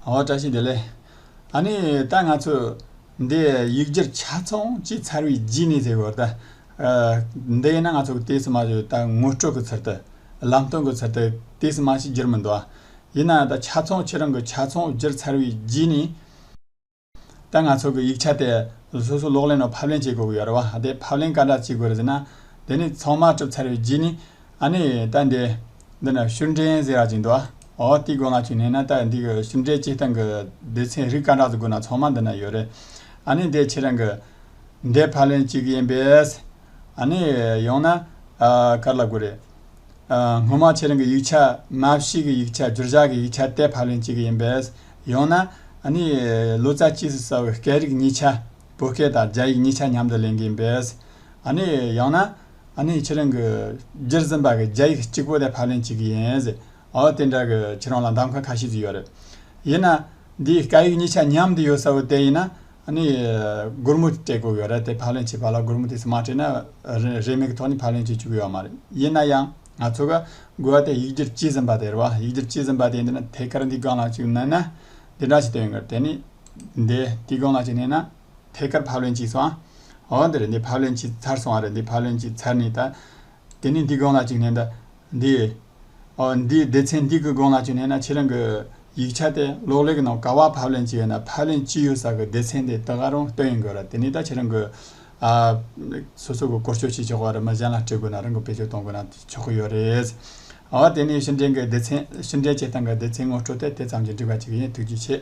ཨོ་བཀྲ་ཤིས་བདེ་ལེགས། ཨ་ནི་ད་ང་ཚོས་འདི་ཡིག་སྒྱུར་ཆ་ཚང་གཅིག་ཚར་བའི་རྗེས་ནས་དེ་གོ་ད། འདི་ཡིན་ན་ང་ཚོ་གི་ཏི་སི་མ་ཞིག་ད་ངོ་སྤྲོད་གི་ཚུལ་དུ། ལམ་སྟོན་གི་ཚུལ་དུ་ཏི་སི་མ་ཞིག་སྒྱུར་མི་འདུག་ཡིན་ན་ད་ཆ་ཚང་ཁྱེད་རང་གི་ཆ་ཚང་སྒྱུར་ཚར་བའི་རྗེས་ནས། ད་ང་ཚོ་གི་ཡིག་ཆ་དེ་སོ་སོ་ལོག་ལེན་ནང་ཕབ་ལེན་བྱེད་དགོས་ཀྱི་ཡོད་རེད་བ། དེ་ཕབ་ལེན་ག་འདྲ་བྱེད་དགོས་རེད་ཟེར་ན། དེ་ནི་ཚང་མ་གྲུབ་ཚར་བའི་རྗེས་ནས་ཨ་ནི་ད་འདི། འདི་ནི་ཤུར་འདྲེན་གཟིག་རག་ཅིག་འདུག་ཨོ་ཏི་དགོས་ང་ཆུ་ནས་ན་ད་འདི་གི་ཤུར་འདྲེན་སྤྱི་སྟངས་གི་སྡེ་ཚན་རིགས་སྐ་དྲག་ཏུ་དགོས་ན་ཚང་མ་འདི་ན་ཡོད་རེད། ཨ་ནི་འདི་ཁྱེད་རང་གི། འདི་ཕ་ལན་གཅིག་ཡིན་པས། ཨ་ནི་ཡང་ན། གར་ལ་དགོས་རེད། སྔོན་མ་ཁྱེད་རང་གི་ཡིག་ཆ་མ་ཕྱི་གི་ཡིག་ཆ་བསྒྱུར་བཞག་གི་ཡིག་ཆ་དེ་ཕ་ལན་གཅིག་ཡིན་པས། ཡང་ན། ཨ་ནི་ལོ་ཙཱ་སྤྱི་སུ་ས་བོད་སྐད་རིགས་གཉིས་ཆ། བོད་སྐད་དང་རྒྱ་ཡིག་གཉིས་ཆ་མཉམ་དུ་ལེན་གི་ཡིན་པས། ཨ་ནི་ཡང་ན། ཨ་ནི་ཁྱེད་རང་གི་རྗེར་འཛིན་པ་གི་རྒྱ་ཡིག་གཅིག་པོ་དེ་ཕ་ལན་གཅིག་ཡིན་ཟེར་ཨོ་དེ་འདྲ་གི་ཁྱེད་རང་ལ་འདམ་ཁ་ཁ་ཤས་ཟིག་ཡོད་རེད། ཡིན་ན། འདིའི་སྐད་ཡིག་གཉིས་ཆ་མཉམ་དུ་ཡོད་ས་བོ་དེ་ཡིན་ན་ཨ་ནི་སྒོར་མོ་སྤྲད་དགོས་གི་རེད་དེ་ཕ་ལན་བྱེད་པ་ལ་སྒོར་མོ་དེ་ཚོ་མ་སྤྲད་ན་རེས་མེད་ཀི་ཐོག་ནས་ཕ་ལན་བྱེད་བཅུག་གི་ཡོད་མ་རེད་ཡིན་ན་ཡང་ང་ཚོ་གི་དགོས་བ་དེ་ཡིག་རྒྱུར་གཅིག་ཟིན་པ་དེ་རེད་བ་ཡིག་རྒྱུར་གཅིག་ཟིན་པ་དེ་འདི་ན་ཐད་ཀར་འདི་གང་ལགས་ཅིག་མནན་ན་འདི་འདྲ་ཞིག་དོན་གི་རེད་དེ་ནི་འདི་འདི་གང་ལགས་ཅིག་མནན་ན། ཐད་ཀར་ཕབ་ལེན་གྱིས་སོང་ཨ། འོ་འདི་རེད་འདི་ཕབ་ལེན་གྱིས་ཚར་སོང་བ་རེད་འདི་ཕབ་ལེན་གྱིས་ཚར་ནས་ད། དེ་ནས་འདི་དགོངས་ལ་བཅུག་ནས་ད། འདི། ཨོ་འདི་སྡེ་ཚན་འདི་གི་དགོངས་ལ་བཅུག་ནས་ན་ཁྱེད་རང་གི། ཡིག་ཆ་དེ་གློག་ཀླད་ཀྱི་ནང་ག་བར་ཕབ་ལེན་བྱས་ཡོད་ན་ཕབ་ལེན་ཅི་ཡོད་ས་གི་སྡེ་ཚན་དེ་ད་ག་རུང་སྟོན་ཡོང་དགོས་ར་དེ་ནས་ད་ཁྱེད་རང་གི། ཨ། སོ་སོ་གི་བསྐོར་སྐྱོད་བྱེད་ཆོག་གི་ར་མི་གཞན་ལ་སྤྲད་དགོས་ན་རང་གི་བེད་སྤྱོད་གཏོང་དགོས་ན་ཆོག་གི་ཡོད་རེད། ཨོ་དེ་ནས་ཕྱི་འབྲེལ་གྱི་སྡེ་ཚན་ཕྱི་འབྲེལ་བྱེད་སྟངས་ཀྱི་སྡེ་ཚན་ངོ་སྤྲོད་དེ་དེ་ཙམ་གྱིས་འགྲིག་པ་ཅིག་ཡིན་ཐུགས་རྗེ་ཆེ།